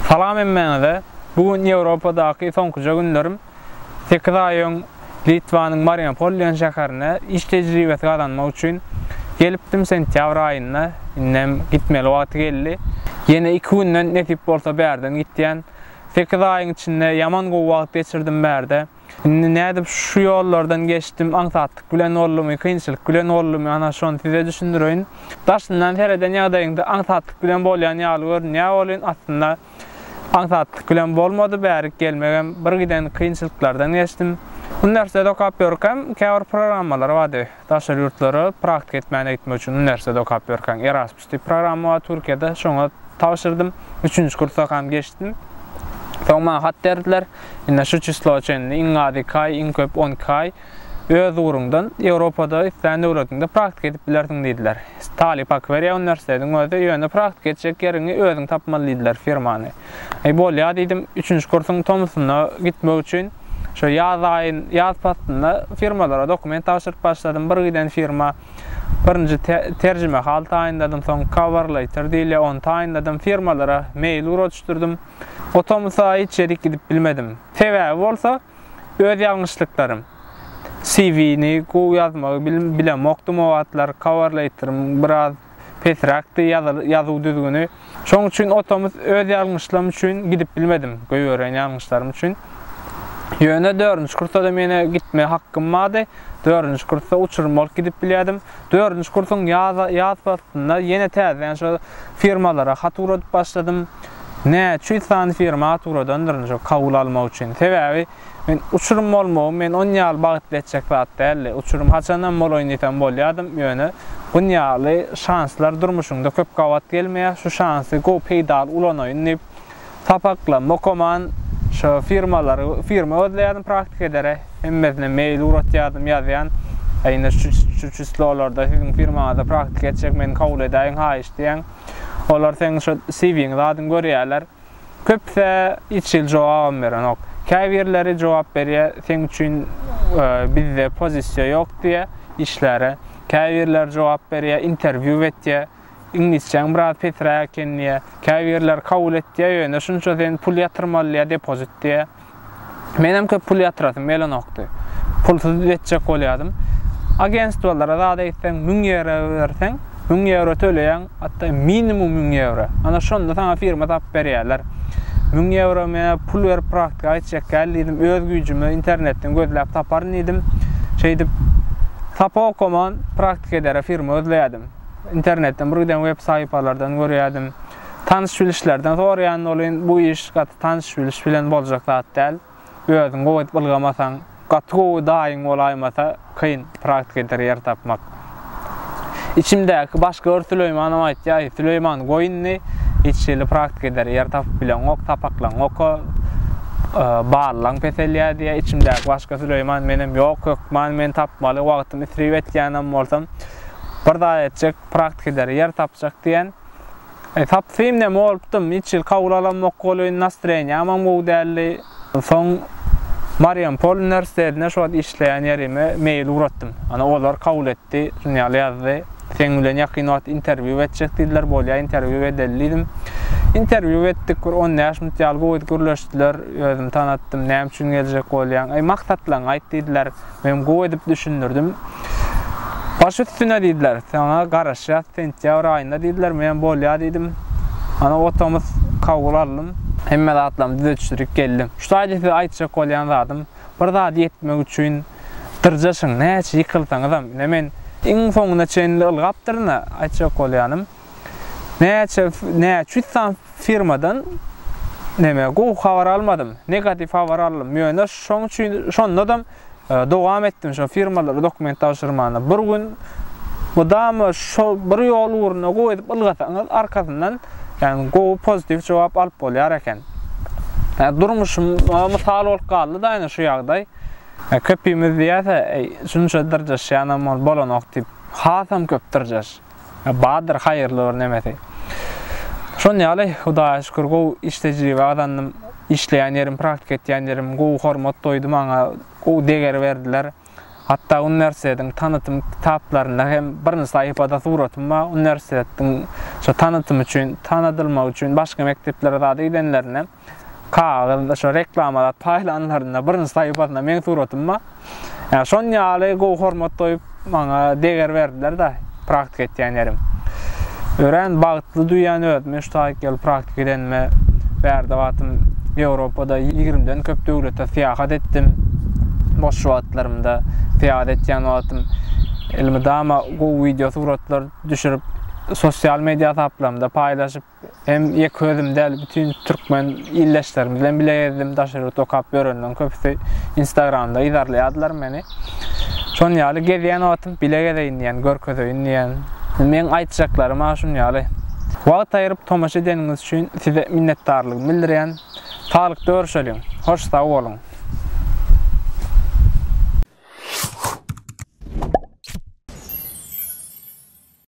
Salam hemmäňize! Bu gün Ýewropadaky soňkuja günlerim. Sekiz aý öň Litwanyň Mariupol diýen şäherine iş tejribesi gazanmak üçin gelipdim, sentýabr aýynda. Indem gitmeli wagty geldi. Ýene iki günden nesip bolsa bärden gitýän. Sekiz aýyň içinde ýaman gowy wagt geçirdim bärde. Indi nädip şu ýollardan geçdim, aňsatlyk bilen boldumy, kynçylyk bilen boldumy, ana şony size düşündireýin. Daşyndan sereden ýagdaýyňda aňsatlyk bilen bolýan ýaly görünýär welin, aslynda aňsatlyk bilen bolmady, bärik gelmegem bir giden kynçylyklardan geçdim. Uniwersitet okap ýörkäm, käbir programmalar bardy, daşary ýurtlara praktika etmäne gitmek üçin uniwersitet okap ýörkäň, Erasmus. Şu programma Türkiýede şoňa tabşyrdym. Üçünji kursakam geçdim. Soň maňa hat berdiler. Ine şu çysloa çenli iň az iki aý, iň köp on iki aý öz ugruňdan Ýewropada islän döwletiňde praktika edip bilersiň diýdiler. Talyp haky berýär uniwersitetiň özi, ýöne praktika etjek ýeriňi özüň tapmaly diýdiler, firmany. Aý bolýa diýdim. Üçünji kursuň tomusynda gitmek üçin şo ýaz aýyn, ýaz paslynda firmalara dokument tabşyryp başladym. Bir giden firma. Birinji terjimehal taýynladym, soň coverletter diýilýär, ony taýynladym, firmalara mail ugradyşdyrdym. O tomus-a hiç ýerik gidip bilmedim. Sebäbi bolsa, öz ýalňyşlyklarym. CV-ni gowy ýazmagy bilemokdym o wagtlar, coverletterim biraz pesräkdi, ýazuw düzgüni. Şoň üçin o tomus öz ýalňyşlym üçin gidip bilmedim, goýberen ýalňyşlarym üçin. Ýöne dördünji kursa-da menä gitme hakkym bardy. Dördünji kursa uçurym bolup gidip bilýärdim. Dördünji kursuň ýaz ýaz paslynda ýene täzeden şo firmalara hat ugradyp başladym. Näçe ýüz sany firma hat ugradandyryn şo kabul almak üçin. Sebäbi Men uçurym bolmagym men on ýaly bagtly etjek zat däldi. Uçurym haçanam bolaýyn diýsem bolýardym, ýöne bun ýaly şanslar durmuşyňda köp gabat gelmeýär, şu şansy gowy peýdaly ulanaýyn diýip, sapaklarymy okaman, şo firmalary, firma gözleýärdim praktika edere, hemmesine mail ugratýardym, ýazýan, a ine şu, şu çyslolarda siziň firmaňyzda praktika etjek, meni kabul edäýiň haýyş diýýän. Olar seň şo CV-ňizi adyň görýärler. Köpüse hiç hili jogabam berenok. Käbirleri jogap berýär, seň üçin bizde pozisiýa ýok diýýär işläre. Käbirleri jogap berýär, interwýu betýär. Iňlisçäň biraz pesiräk eken diýýär. Käbirleri kabul etýär, ýöne şunça sen pul ýatyrmaly diýýär, depozit diýýär. Menem köp pul ýatyrasym gelenokdy. Pulsuz ýetjek bolýadym. Agentstwalara zat eýtseň müň ýewro berseň, müň ýewro töleýäň, hatda minimum müň ýewro. Ana şonda saňa firma tapyp berýärler. Müň ýewro menä pul berip praktika geçjek däl diýdim. Öz güýjüme internetden gözläp taparyn diýdim. Şeýdip sapa okaman praktika edere firma gözleýärdim. Internetden bir giden web saýpalardan görýärdim. Tanyş-bilişlerden soraýan bolyn, bu iş gaty tanyş-biliş bilen boljak zat däl. Özüň gowy edip ylgamasaň, gaty gowy daýyň bolaýmasa, kyn praktik eder ýer tapmak. Içimdäki başga bir Süleýmanym aýtýar, Süleýman, goý indi, hiç hili praktik eder ýer tapyp bileňok, sapaklaňoka, ballaň peselýär diýýär. Içimdäki başga Süleýman menem, ýok, hökman men tapmaly, wagtym isrip etýänem bolsam, bir zat etjek, praktik eder ýer tapjak diýen. Sapsym neme bolupdym, hiç il kabul alamok welin nastreniýamam gowy däldi. Soň Mariampol uniwersitetine şu wagt işleýän ýerime mail ugratdym. Ana olar kabul etdi, şuny ýaly ýazdy. Seň bilen ýakyn wagt interwýu etjek diýdiler, bolýa interwýu edeli diýdim. Interwýu etdik, bir on bäş minut ýaly gowy gürleşdiler, özümi tanatdym, näme üçin geljek bolýaň, eý maksatlaryňy aýt diýdiler. Men gowy edip düşündirdim. Baş üstüne diýdiler. Saňa garaşýas sentýabr aýynda diýdiler. Menem bolýa diýdim. Ana otobus kabul aldym. Hemme zatlarymy düzetişdirip geldim. Şu taýda size aýtjak bolýan zadym, bir zady ýetmek üçin dyrjaşyň, näçe ýykylsaňyzam. Ine men iň soňuna çenli ylgapdyryn-a aýtjak bolýanym. Näçe näçe ýüz san firmadan neme gowy habar almadym. Negatiw habar aldym. Ýöne şoň üçin şonda-da dowam etdim şo firmalara dokument tabşyrmana. Bir gün mydama şo bir ýol ugruna gowy edip ylgasaňyz arkasyndan ýani gowy pozitiw jogap alyp bolýar eken. Ýa durmuşym mysal bolup galdy-da ýani şu ýagdaý. Köpimiz diýýärse, şunça dyrjaşýanam ol bolanok diýip, hasam köp dyrjaş. Bardyr haýyrly bir nemesi. Şon ýaly Hudaýa şükür gowy iş tejribe gazandym. Işleýän ýerim praktika etýän ýerim gowy hormat doýdy maňa gowy deger berdiler. Hatda uniwersitetiň tanytym kitaplarynda hem birinji saýypada suratym bar. Uniwersitetiň şo tanytym üçin tanadylmak üçin başga mekdeplere zada gidenlerinde. kagyz şo reklamalar paýlanlarynda birinji saýypasynda meň suratym bar. Ýa şon ýaly gowy hormat goýup maňa deger berdiler da praktik etýän ýerim. Örän bagtly duýýan özümi şu taýyk ýyl praktik edenime. Bärde wagtym Ýewropada ýigrimden köp döwlete syýahat etdim. Boş wagtlarymda syýahat etýän wagtym elmydama gowy wideo suratlar düşürip sosial media hasaplarymda paýlaşyp Hem ýeke özüm däl, bütin türkmen ildeşlerimiz bilen bile gezdim. Daşary ýurtda okap ýörenleriň köpüsi Instagramda yzarlaýardylar meni. Şon ýaly gezýän wagtym bile gezeýin diýen, görkezeýin diýen. Meň aýtjaklarym ha şun ýaly. Wagt aýryp tomaşa edeniňiz üçin size minnetdarlygymy bildirýän. Saglykda görşeliň. Hoş sag boluň.